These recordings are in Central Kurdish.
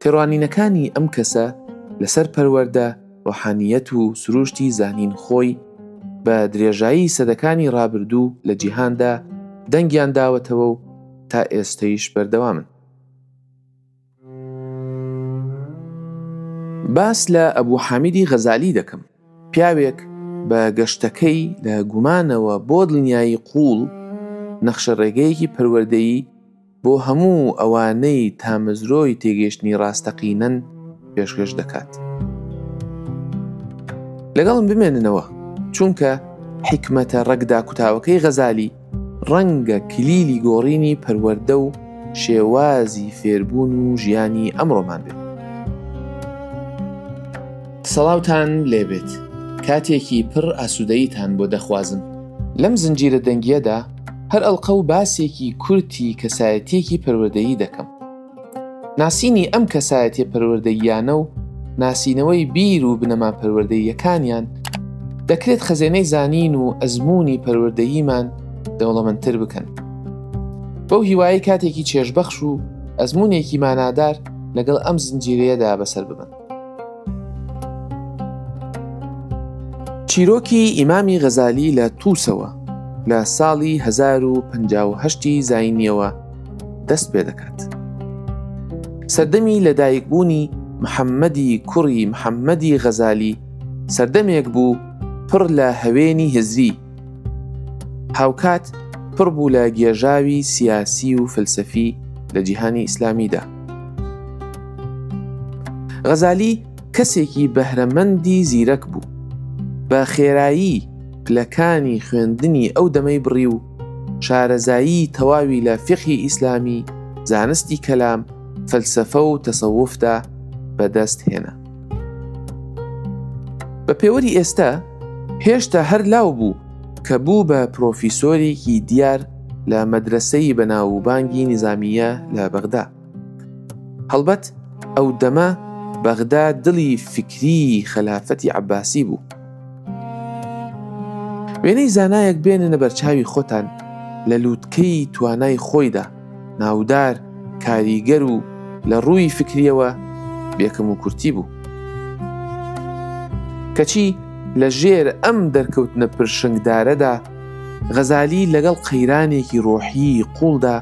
تێڕوانینەکانی ئەم کەسە لەسەر پەروەردە، ڕۆحانییەت و سرووشتی زانین خۆی بە درێژایی سەدەکانی ڕابردوو لە جیهاندا دەنگیان داوەتەوە و تا ئێستەیش بەردەوامن. باس لە ئەبوو حامیدی غەزالی دەکەم، پیاوێک بە گەشتەکەی لە گومانەوە بۆ دڵنیایی قووڵ، نەخشەڕێگەیەکی پەروەردەیی بۆ هەموو ئەوانەی تامەزرۆی تێگەیشتنی ڕاستەقینەن پێشکەش دەکات. لەگەڵم بمێننەوە، چونکە حیکمەتە ڕەگ داکوتاوەکەی غەزالی ڕەنگە کلیلی گۆڕینی پەروەردە و شێوازی فێربوون و ژیانی ئەمڕۆمان بێت. سڵاوتان لێبێت، کاتێکی پڕ ئاسوودەییتان بۆ دەخوازم. لەم زنجیرە دەنگییەدا، هەر ئەڵقە و باسێکی کورتی کەسایەتیەکی پەروەردەیی دەکەم ناسینی ئەم کەسایەتێ پەروەردەییانە و ناسینەوەی بیر و بنەما پەروەردەییەکانیان دەکرێت خەزێنەی زانین و ئەزمموی پەروەردەییمان دەوڵەمەندتر بکەن بەو هیوایی کاتێکی چێژبەخش و ئەزمونێکی مانادار لەگەڵ ئەم زنجیرەیەدا بەسەر ببن چیرۆکی ئیمامی غەزالی لە تووسەوە لە ساڵی 1950 زینیەوە دەست پێ دەکات. سەردەمی لەدایکبوونی محەممەدی کوڕی محەممەدی غەزالی سەردەمێک بوو پڕ لە هەوێنی هزری هاوکات پڕ بوو لە گێژاوی سیاسی و فلسەفی لە جیهانی ئیسلامیدا غەزالی کەسێکی بەهرەمەندی زیرەک بوو، بە خێرایی پلەکانی خوێندنی ئەو دەمەی بڕی و شارەزایی تەواوی لە فیقهی ئیسلامی، زانستی کەلام، فەلسەفە و تەسەوفدا بەدەست هێنا. بە پێوەری ئێستا هێشتا هەر لاو بوو کە بوو بە پرۆفیسۆرێکی دیار، لە مەدرەسەی بەناووبانگی نیزامییە لە بەغدا. هەڵبەت ئەو دەمە بەغدا دڵی فیکری خەلافەتی عەباسی بوو. وێنەی زانایەک بێننە بەرچاوی خۆتان لە لووتکەی توانای خۆیدا ناودار کاریگەر و لە ڕووی فکریەوە بێکم و کورتی بوو. کەچی لە ژێر ئەم دەرکەوتنە پرشنگدارەدا غەزالی لەگەڵ قەیرانێکی ڕۆحیی قووڵدا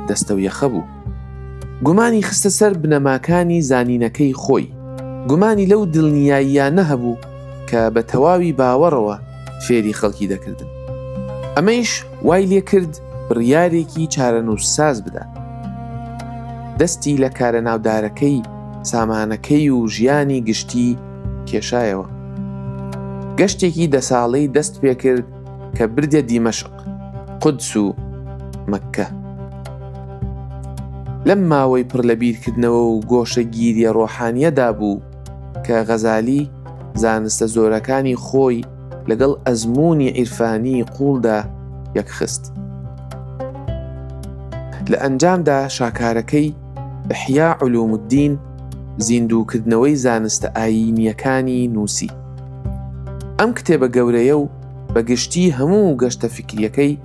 دەستەویەخە بوو. گومانی خستە سەر بنەماکانی زانینەکەی خۆی، گومانی لەو دڵنیاییانە هەبوو کە بە تەواوی باوەڕەوە فێری خەڵکی دەکردن. ئەمەیش وای لێ کرد بڕیارێکی چارەنووسساز بدات. دەستی لە کارە ناودارەکەی، سامانەکەی و ژیانی گشتیی، کێشایەوە. گەشتێکی دە ساڵەی دەست پێکرد کە بردە دیمەشق، قودس و مەککە. لەم ماوەی پڕ لە بیرکردنەوە و گۆشەگیرییە ڕۆحانییەدا بوو کە غەزالی زانستە زۆرەکانی خۆی لەگەڵ ئەزموونی عیرفانیی قووڵدا یەکخست. لە ئەنجامدا شاکارەکەی، احیاء علوم الدین، زیندووکردنەوەی زانستە ئایینییەکانی، نووسی. ئەم کتێبە گەورەیە و بە گشتی هەموو گەشتە فیکرییەکەی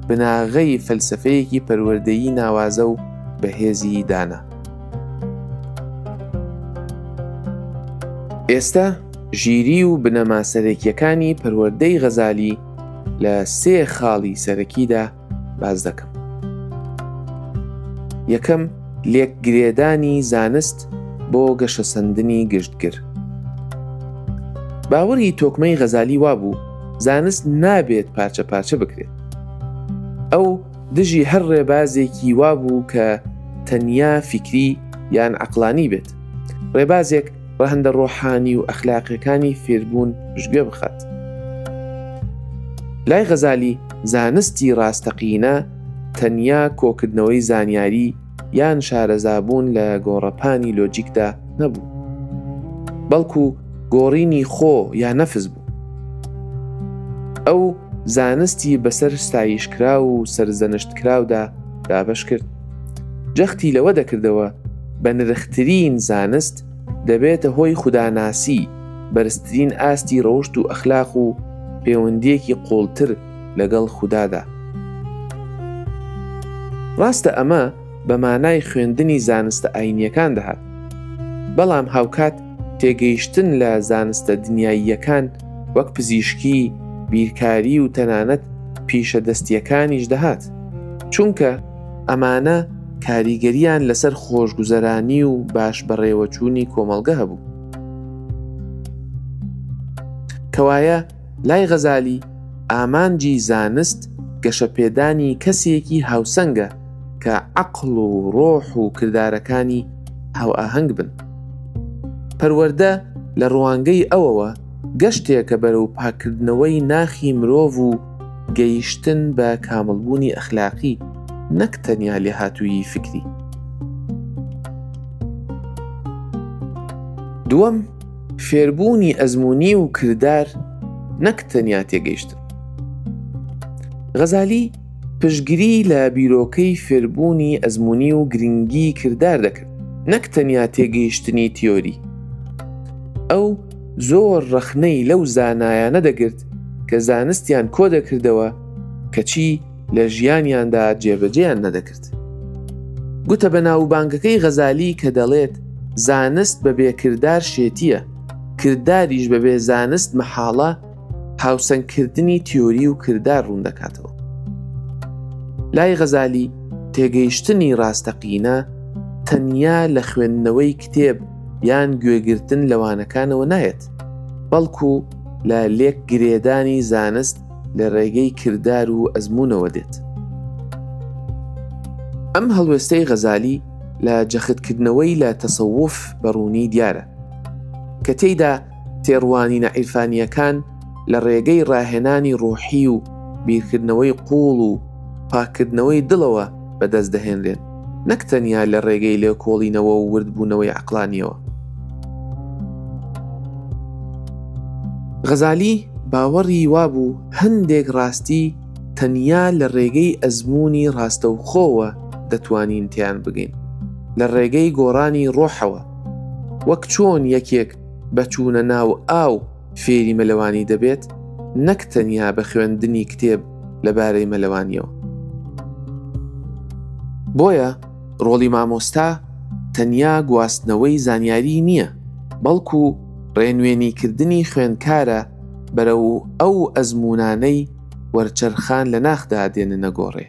بناغەی فەلسەفەیەکی پەروەردەیی ناوازە و بەهێزی دانا. ئێستە ژیری و بنەما سەرەکییەکانی پەروەردەی غەزالی لە سێ خاڵی سەرەکیدا باس دەکەم یەکەم لێک گرێدانی زانست بۆ گەشەسەندنی گشتگر باوەری تۆکمەی غەزالی وابوو زانست نابێت پارچە پارچە بکرێت ئەو دژی هەر ڕێبازێکی وابوو کە تەنیا فیکری یان عقلانی بێت ڕێبازێک ڕەهەندە ڕۆحانی و ئەخلاقیەکانی فێربوون پشتگوێ بخات. لای غەزالی زانستی ڕاستەقینە تەنیا کۆکردنەوەی زانیاری یان شارەزابوون لە گۆڕەپانی لۆجیکدا نەبوو، بەڵکو گۆڕینی خۆ یا نەفس بوو. ئەو زانستی بەسەر ستایشکراو و سەرزەنشتکراودا دابەش کرد. جەختی لەوە دەکردەوە بە نرخترین زانست دەبێتە هۆی خوداناسی بەرزترین ئاستی ڕەوشت و ئەخلاق و پەیوەندیەکی قوڵتر لەگەڵ خودادا ڕاستە ئەمە بە مانای خوێندنی زانستە ئاینیەکان دەهات بەڵام هاوکات تێگەیشتن لە زانستە دنیاییەکان وەک پزیشکی، بیرکاری و تەنانەت پیشە دەستییەکانیش دەهات، چونکە ئەمانە کاریگەرییان لەسەر خۆشگوزەرانی و باش بەڕێوەچوونی کۆمەڵگە هەبوو. کەوایە، لای غەزالی ئامانجی زانست گەشەپێدانی کەسێکی هاوسەنگە کە عەقڵ و ڕۆح و کردارەکانی هاوئاهەنگ بن. پەروەردە لە ڕوانگەی ئەوەوە گەشتێکە بەرەو پاککردنەوەی ناخی مرۆڤ و گەیشتن بە کامڵبوونی ئەخلاقی نەک تەنیا لێهاتوویی فیکری. دووەم، فێربوونی ئەزموونی و کردار نەک تەنیا تێگەیشتن. غەزالی پشگری لە بیرۆکەی فێربوونی ئەزمموی و گرنگی کردار دەکرد نەک تەنیا تێگەیشتنی تیۆری ئەو زۆر ڕەخنەی لەو زانایانە دەگرت کە زانستیان کۆ دەکردەوە کەچی لە ژیانیاندا جێبەجێیان نەدەکرد کرد. گوتە بەناووبانگەکەی غەزالی کە دەڵێت، زانست بەبێ کردار شێتییە، کرداریش بەبێ زانست مەحاڵە، هاوسەنگکردنی تیۆری و کردار ڕوون دەکاتەوە. لای غەزالی، تێگەیشتنی ڕاستەقینە تەنیا لە خوێندنەوەی کتێب یان گوێگرتن لە وانەکانەوە نایەت، بەڵکو لە لێکگرێدانی زانست لە ڕێگەی کردار و ئەزموونەوە دێت. ئەم هەڵوێستەی غەزالی لە جەختکردنەوەی لە تەسەوف بە ڕوونی دیارە، کە تێیدا تێڕوانینە عیرفانییەکان لە ڕێگەی ڕاهێنانی ڕۆحی و بیرکردنەوەی قووڵ و پاککردنەوەی دڵەوە بەدەست دەهێنرێن. نەک تەنیا لە ڕێگەی لێکۆڵینەوە و وردبوونەوەی عەقڵانییەوە. غەزالی باوەڕی وابوو هەندێک ڕاستی تەنیا لە ڕێگەی ئەزموونی ڕاستەوخۆوە دەتوانین تێیان بگەین، لە ڕێگەی گۆڕانی ڕۆحەوە، وەک چۆن یەکێک بە چوونە ناو ئاو، فێری مەلەوانی دەبێت نەک تەنیا بە خوێندنی کتێب لەبارەی مەلەوانیەوە. بۆیە ڕۆڵی مامۆستا تەنیا گواستنەوەی زانیاری نییە، بەڵکو ڕێنوێنیکردنی خوێندکارە بەرەو ئەو ئەزمونانەی وەرچەرخان لە ناخدا دێننە گۆڕێ.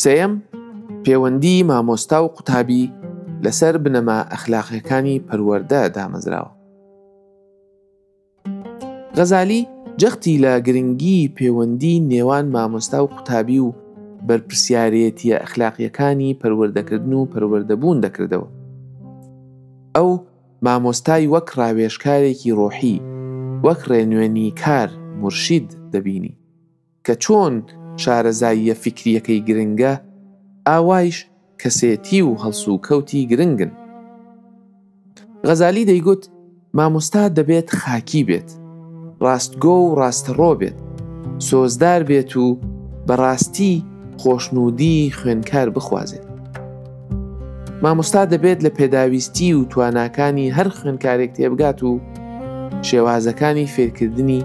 سێیەم، پێوەندی مامۆستا و قوتابی لەسەر بنەما ئەخلاقیەکانی پەروەردە دامەزراوە. غەزالی جەختی لە گرنگی پێوەندی نێوان مامۆستا و قوتابی و بەرپرسیارێتیە ئەخلاقیەکانی پەروەردەکردن و پەروەردەبوون دەکردەوە. ئەو مامۆستای وەک ڕاوێژکارێکی ڕۆحی، وەک ڕێنوێنیکار، مورشید، دەبینی. کە چۆن شارەزاییە فیکرییەکەی گرنگە، ئاوایش کەسێتی و هەڵسوکەوتی گرنگن. غەزالی دەیگوت، مامۆستا دەبێت خاکی بێت، ڕاستگۆ و ڕاستەڕۆ بێت، سۆزدار بێت و بە ڕاستی خۆشنوودیی خوێنکار بخوازێت. مامۆستا دەبێت لە پێداویستی و تواناکانی هەر خوێنکارێک تێبگات و شێوازەکانی فێرکردنی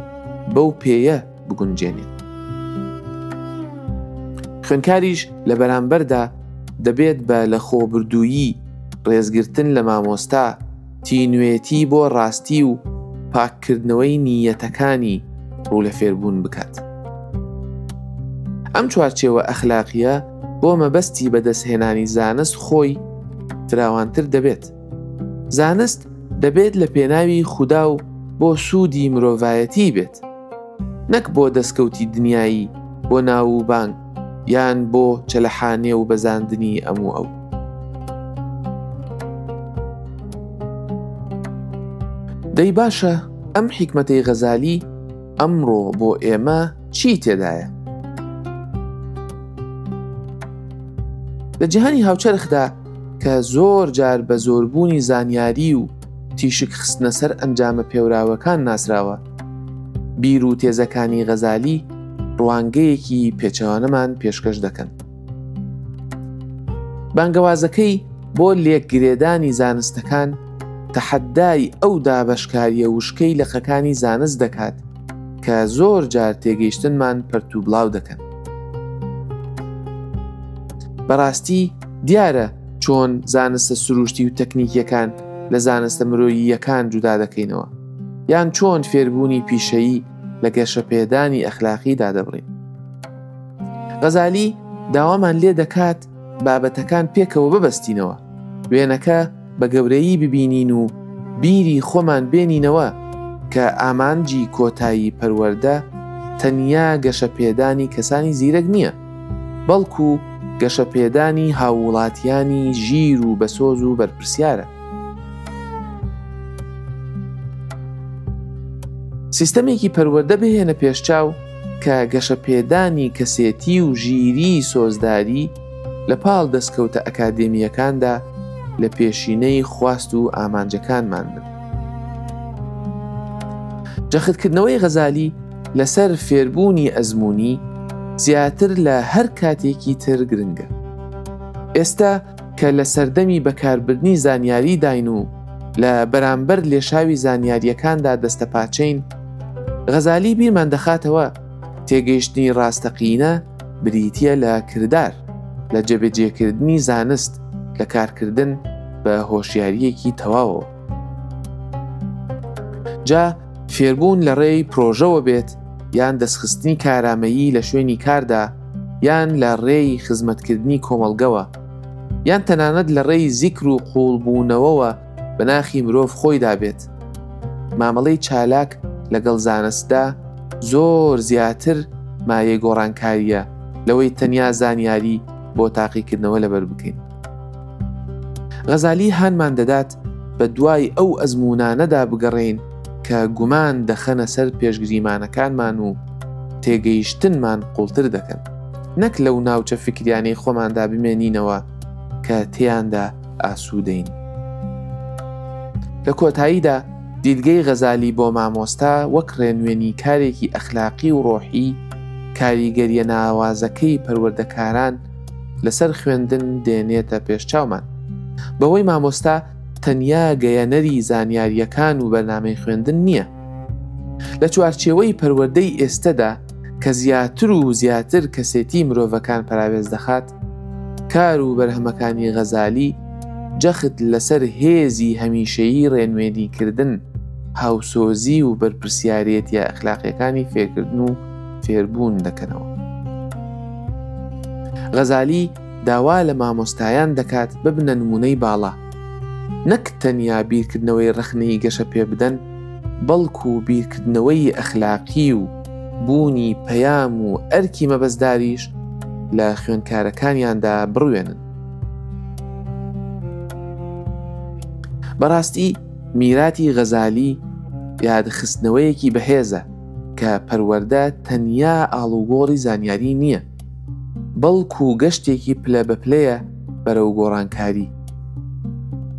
بەو پێیە بگونجێنێت. خوێنکاریش لە بەرامبەردا دەبێت بە لە خۆبردوویی ڕێزگرتن لە مامۆستا تینوێتی بۆ ڕاستی و پاککردنەوەی نیەتەکانی ڕوو لە فێربوون بکات. ئەم چوارچێوە ئەخلاقیە بۆ مەبەستی بەدەستهێنانی زانست خۆی فراوانتر دەبێت. زانست دەبێت لە پێناوی خودا و بۆ سوودی مرۆڤایەتی بێت، نەک بۆ دەستکەوتی دنیایی بۆ ناو و بانگ یان بۆ چەلەحانێ و بەزاندنی ئەم و ئەو. دەی باشە ئەم حیکمەتەی غەزالی ئەمڕۆ بۆ ئێمە، چی تێدایە؟ لە جیهانی هاوچەرخدا کە زۆر جار بە زۆربوونی زانیاری و تیشک خستنە سەر ئەنجامە پێوراوەکان ناسراوە بیر و تێزەکانی غەزالی ڕوانگەیەکی پێچەوانەمان پێشکەش دەکەن بانگەوازەکەی بۆ لێکگرێدانی زانستەکان تەحەدای ئەو دابەشکاریە وشکەی لەقەکانی زانست دەکات کە زۆر جار تێگەیشتنمان پەرت و بڵاو دەکەن. بەڕاستی دیارە چۆن زانستە سروشتی و تەکنیکیەکان لە زانستە مرۆییەکان جودا دەکەینەوە یان چۆن فێربوونی پیشەیی لە گەشەپێدانی ئەخلاقی دادەبڕین غەزالی داوامان لێ دەکات بابەتەکان پێکەوە ببەستینەوە وێنەکە بە گەورەیی ببینین و بیری خۆمان بێنینەوە کە ئامانجی کۆتایی پەروەردە تەنیا گەشەپێدانی کەسانی زیرەک نییە، بەڵکو گەشەپێدانی هاووڵاتیانی ژیر و بەسۆز و بەرپرسیارە. سیستەمێکی پەروەردە بهێنە پێشچاو کە گەشەپێدانی کەسێتی و ژیریی سۆزداری، لە پاڵ دەستکەوتە ئەکادێمییەکاندا لە پێشینەی خواست و ئامانجەکانمان بن. جەختکردنەوەی غەزالی لەسەر فێربوونی ئەزموونی زیاتر لە هەر کاتێکی تر گرنگە. ئێستا کە لە سەردەمی بەکاربردنی زانیاری داین و لە بەرامبەر لێشاوی زانیاریەکاندا دەستەپاچین، غەزالی بیرمان دەخاتەوە تێگەیشتنی ڕاستەقینە، بریتییە لە کردار لە جێبەجێکردنی زانست لە کارکردن بە هۆشیاریەکی تەواوەوە جا فێربوون لە ڕێی پرۆژەوە بێت یان دەستخستنی کارامەیی لە شوێنی کاردا یان لە ڕێی خزمەتکردنی کۆمەڵگەوە یان تەنانەت لە ڕێی زیکر و قوڵبوونەوەوە بە ناخی مرۆڤ خۆیدا بێت. مامەڵەی چالاک لەگەڵ زانستدا زۆر زیاتر مایەی گۆڕانکارییە لەوەی تەنیا زانیاری بۆ تاقیکردنەوە لەبەر بکەین. غەزالی هانمان دەدات بە دوای ئەو ئەزمونانەدا بگەڕێین کە گومان دەخەنە سەر پێشگریمانەکانمان و تێگەیشتنمان قوڵتر دەکەن. نەک لەو ناوچە فیکریانەی خۆماندا بمێنینەوە کە تێیاندا ئاسوودەین. لە کۆتاییدا دیدگەی غەزالی بۆ مامۆستا وەک ڕێنوێنی کارێکی ئەخلاقی و ڕۆحی کاریگەریە ناوازەکەی پەروەردەکاران لەسەر خوێندن دێنێتە پێش چاومان بەوەی مامۆستا تەنیا گەیەنەری زانیاریەکان و بەرنامەی خوێندن نییە لە چوارچێوەی پەروەردەی ئێستەدا کە زیاتر و زیاتر کەسێتی مرۆڤەکان پراوێز دەخات کار و بەرهەمەکانی غەزالی جەخت لەسەر هێزی هەمیشەیی ڕێنوێنیکردن، هاوسۆزی و بەرپرسیارێتیە ئەخلاقیەکانی فێرکردن و فێربوون دەکەنەوە. غەزالی داوا لە مامۆستایان دەکات ببنە نمونەی باڵا، نەک تەنیا بیرکردنەوەی ڕەخنەیی گەشە پێبدەن، بەڵکو بیرکردنەوەی ئەخلاقی و، بوونی پەیام و ئەرکی مەبەستداریش لە خوێنکارەکانیاندا بڕوێنن بەڕاستی میراتی غەزالی یادخستنەوەیەکی بەهێزە کە پەروەەردە تەنیا ئاڵوگۆڕی زانیاری نییە بەڵکو گەشتێکی پلە بە پلەیە بەرەو گۆڕانکاری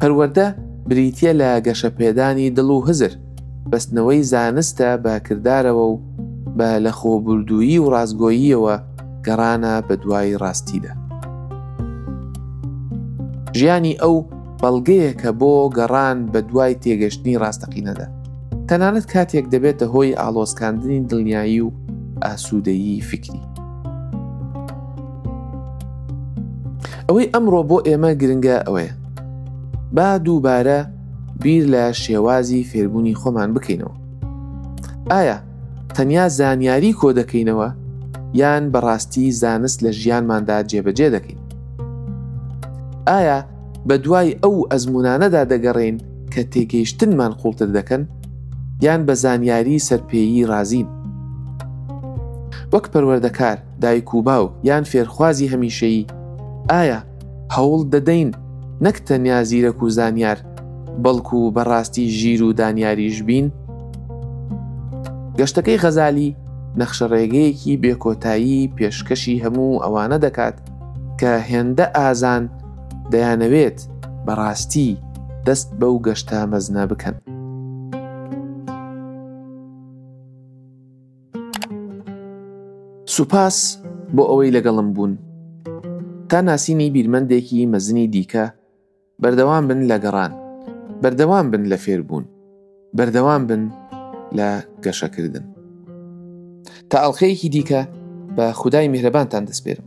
پەروەەردە بریتە لە گەشەپێدانی دڵ و هزر بەستنەوەی زانستە بە کردارەوە و بە لەخۆبوردوویی و ڕاستگۆییەوە گەڕانە بەدوای ڕاستیدا. ژیانی ئەو بەڵگەیەکە بۆ گەڕان بەدوای تێگەشتنی ڕاستەقینەدا، تەنانەت کاتێک دەبێتە هۆی ئاڵۆزکاندنی دڵنیایی و ئاسوودەیی فیکری. ئەوەی ئەمڕۆ بۆ ئێمە گرنگە ئەوەیە با دووبارە، بیر لە شێوازی فێربوونی خۆمان بکەینەوە ئایا تەنیا زانیاری کۆ دەکەینەوە یان بەڕاستی زانست لە ژیانماندا جێبەجێ دەکەین ئایا بە دوای ئەو ئەزمونانەدا دەگەڕین کە تێگەیشتنمان قوڵتر دەکەن یان بە زانیاری سەرپێیی رازین وەک پەروەردەکار دایک و باوک یان فێرخوازی هەمیشەیی ئایا هەوڵ دەدەین نەک تەنیا زیرەک و زانیار بەڵکو و بەڕاستی ژیر و دانیاریش بین؟ گەشتەکەی غەزالی نەخشە ڕێگەیەکی بێکۆتایی پێشکەشی هەموو ئەوانە دەکات کە هێندە ئازان دەیانەوێت بەڕاستی دەست بەو گەشتە مەزنە بکەن. سوپاس بۆ ئەوەی لەگەڵم بوون تا ناسینی بیرمەندێکی مەزنی دیکە، بەردەوام بن لە گەڕان، بەردەوام بن لە فێربوون، بەردەوام بن لە گەشەکردن. تا ئەڵقەیەکی دیکە بە خودای میهرەبانتان دەسپێرم.